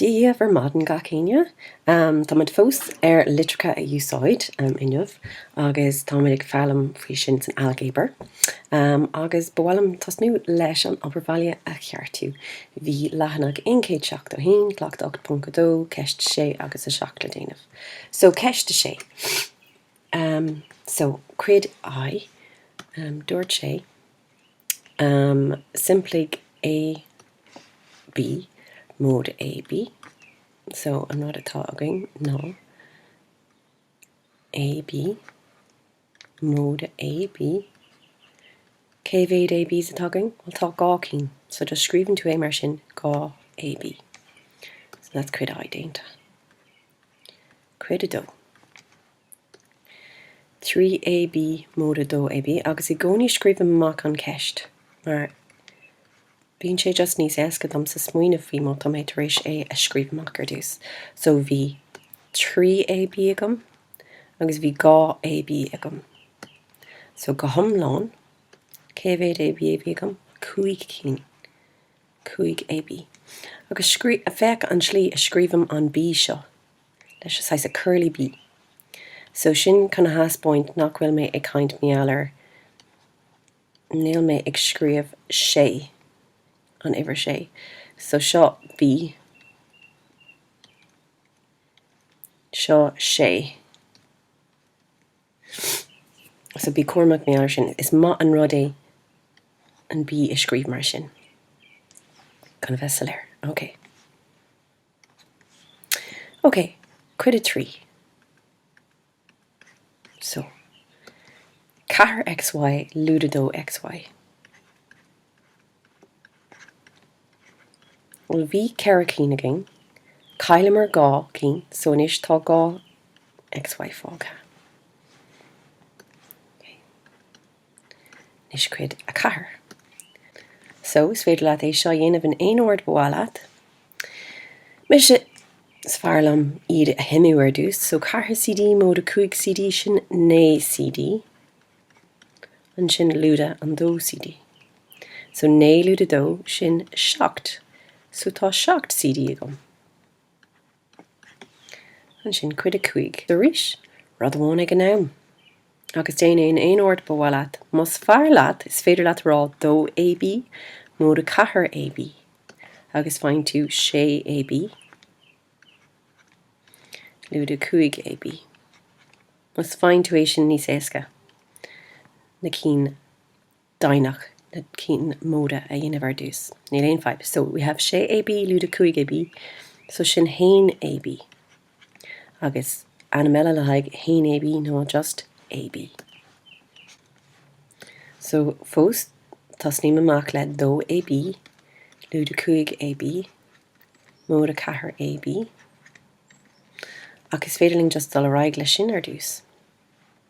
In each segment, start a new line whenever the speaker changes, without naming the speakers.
Dia daoibh ar maidin gach éinne. Táimid fós ar litreacha a úsáid inniu agus táimid ag foghlaim faoi sin san ailgéabar. Agus ba mhaith liom tosnú leis an obair bhaile a cheartú. Bhí leathanach aon chéad seachtó a haon, cleachtadh 8.2, ceist a sé agus a seacht le déanamh. So ceist a sé. So cuid I dúirt sé. Am simpligh AB móide AB, so an rud atá againn ná AB móide AB, cé mhéad ABs atá againn? Bhuel tá dhá cinn, so just scríobhann tú é mar sin, 2 AB. So that's cuid I déanta. Cuid 2. 3AB móide 2AB, agus i gcónaí scríobhaim amach an cheist, mar bíonn sé just níos éasca domsa smaoineamh faoi má tá mé tar éis é a scríobh amach ar dtús. So bhí 3AB agam agus bhí 2AB agam. So go hiomlán, cé mhéad AB a bhí agam? Cúig cinn. 5AB. Agus féach an tslí a scríobhaim an B seo. leis an saghas curly B so sin chun a theaspáint nach bhfuil mé ag caint mar gheall ar níl mé ag scríobh sé an uimhir sé so seo B seo sé so bí cúramach mar gheall ar sin is maith an rud é an B a scríobh mar sin chun a bheith soiléir ok. Ok, cuid a trí. So, ceathair XY lúide dó XY. Bhuel, bhí ceithre cinn againn, chailleamar dhá cinn, so anois tá dhá XY fágtha. Anois cuid a ceathair. So, is féidir leat é seo a dhéanamh in aon ord ba mhaith leat. Mise, is fearr liom iad a shuimiú ar dtús. So, ceathair CD móide cúig CD, sin naoi CD. Ansin lúide an dó CD. So, naoi lúide dó, sin seacht. So, tá seacht CD agam. Ansin cuid a cúig. So arís, rud amháin ag an am. Agus déan é in aon ord ba mhaith leat. Más fearr leat, is féidir leat a rá 2AB móide 4AB. Agus faigheann tú 6AB lúide 5AB. Más faigheann tú é sin níos éasca. Na cinn. deimhneach na cinn móra a dhéanamh ar dtús. Níl aon fadhb. So, we have 6 AB, lúide 5 AB, so sin haon AB. Agus ainm eile le haghaidh haon AB ná just AB. So, fós, tosnaím amach le dó AB, lúide 5 AB, móide 4 AB. Ach is féidir linn just dul ar aghaidh leis sin ar dtús.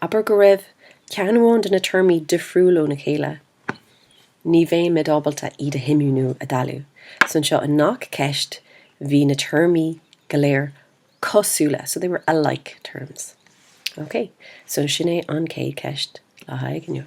Abair go raibh ceann amháin de na téarmaí difriúil óna chéile, ní bheimid ábalta iad a shuimiú nó a dhealú. So anseo i ngach ceist bhí na téarmaí go léir cosúla, so they were alike terms. Okay, so sin é an chéad ceist le haghaidh inniu.